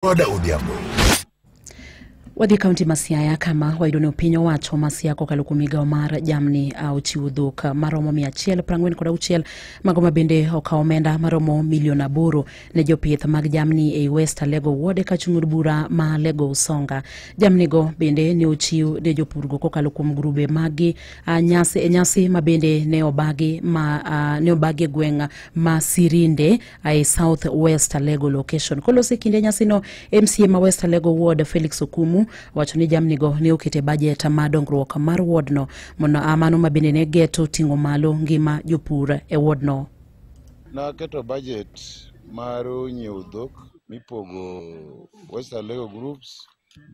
Oda Odhiambo. Wadhi kaunti ma Siaya kama wayudo ni piny owacho ma Siaya kokalo kuom migawo mar jamni a, ochiwo dhok a, maromo mia achiel piero ang'wen kod auchiel mago ma bende okawo omenda maromo milion aboro ne jopith mag jamni ei West Alego Ward ka chung' od bura ma Alego Usonga. Jamnigo bende ne ochiw ne jopurgo kokalo kuom grube magi a, nyasi, e nyasi ma bende ne obagi ma a, ne obagi e gweng' ma Sirinde I South West Alego location. Kolose kinde nyasino MCA ma West Alego Ward Felix Okumu wacho ni jamnigo ne okete bajet ma dongruok mar wardno mondo amano ma bende ne geto ting'o malo ngima jopur e wardno. Naketo bajet mar nyiewo dhok mipogo West Alego groups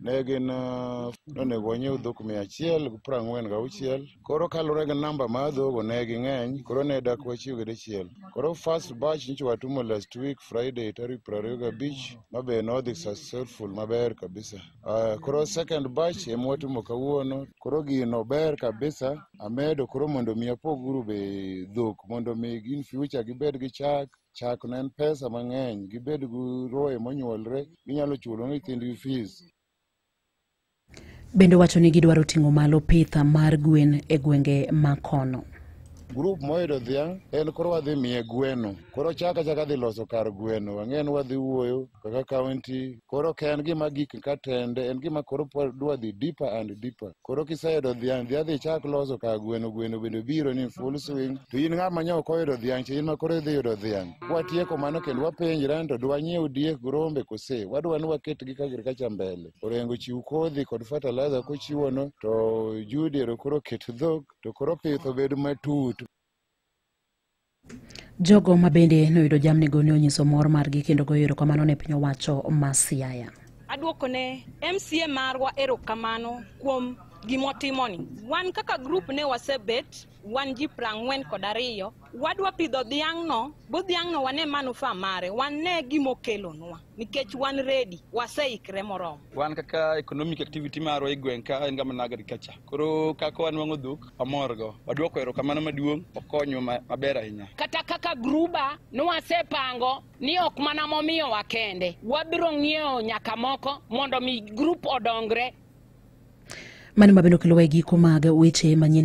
ne gin ah, nonego wanyiew dhok mia achiel gi piero ang'wen gauchiel koro kaluwore gi namba mar dhogo ne ging'eny koro ne dak wachiw gi dichiel koro first batch nyicho watumo last week friday tarik piero ariyo gabich ma be nodhi successful maber kabisa uh, koro second batch ema watumo kawuono koro gino ber kabisa amedo koro mondo mi apoguru be dhok mondo mi in future gibed gi chak Chak ne en pesa mang'eny, gibed gi roye monyuolre, ginyalo chulo ne nyithindgi fees. Bende wacho ni gidwaro ting'o malo pitha mar gwen e gwenge ma kono. Grup moyudo dhiang' en koro wadhi miye gweno. Koro chaka chaka dhi loso kar gweno, wang'e ni wadhi wuoyo kaka county koro ok en gima gik ka tende en gima koro pod dwa dhi deeper and deeper koro kiseyudo dhiang' dhi adhi chak loso ka gweno gweno bende biro ni full swing to in ng'ama nyo ok oyudo dhiang' to in ma koro idhi yudo dhiang' kwatieko mano kendo wapenjre ni to dwanyiew diek grombe kose wadwa ni waketgi ka agriculture mbele orengo chiw kodhi kod fertilizer kochiwono to Judy ero koro ket dhok to koro pith obed matut Jogo ma bende noyudo jamnigo ne onyiso mor margi kendo goyo erokamano ne piny owacho ma Siaya. Aduoko ne MCA marwa erokamano kuom gimotimoni. Wan kaka grup ne wasebet wan ji prang'wen kod ariyo, wadwa pidho dhiang'no, bo dhiang'no wane manufaa mare, wane gimokelonwa. nikech wan ready waseikre moromo wan kaka economic activity marwa e gweng' ka en gama na agriculture koro kaka wanwang'o dhok wamorgo waduoko erokamano maduong' okonywa ma- maber ahinya kata kaka gruba nwasepango ni ok mana momiyowa kende wabiro ng'iewo nyaka moko mondo mi grup odongre Mani ma bende okelowa e giko mag weche manyien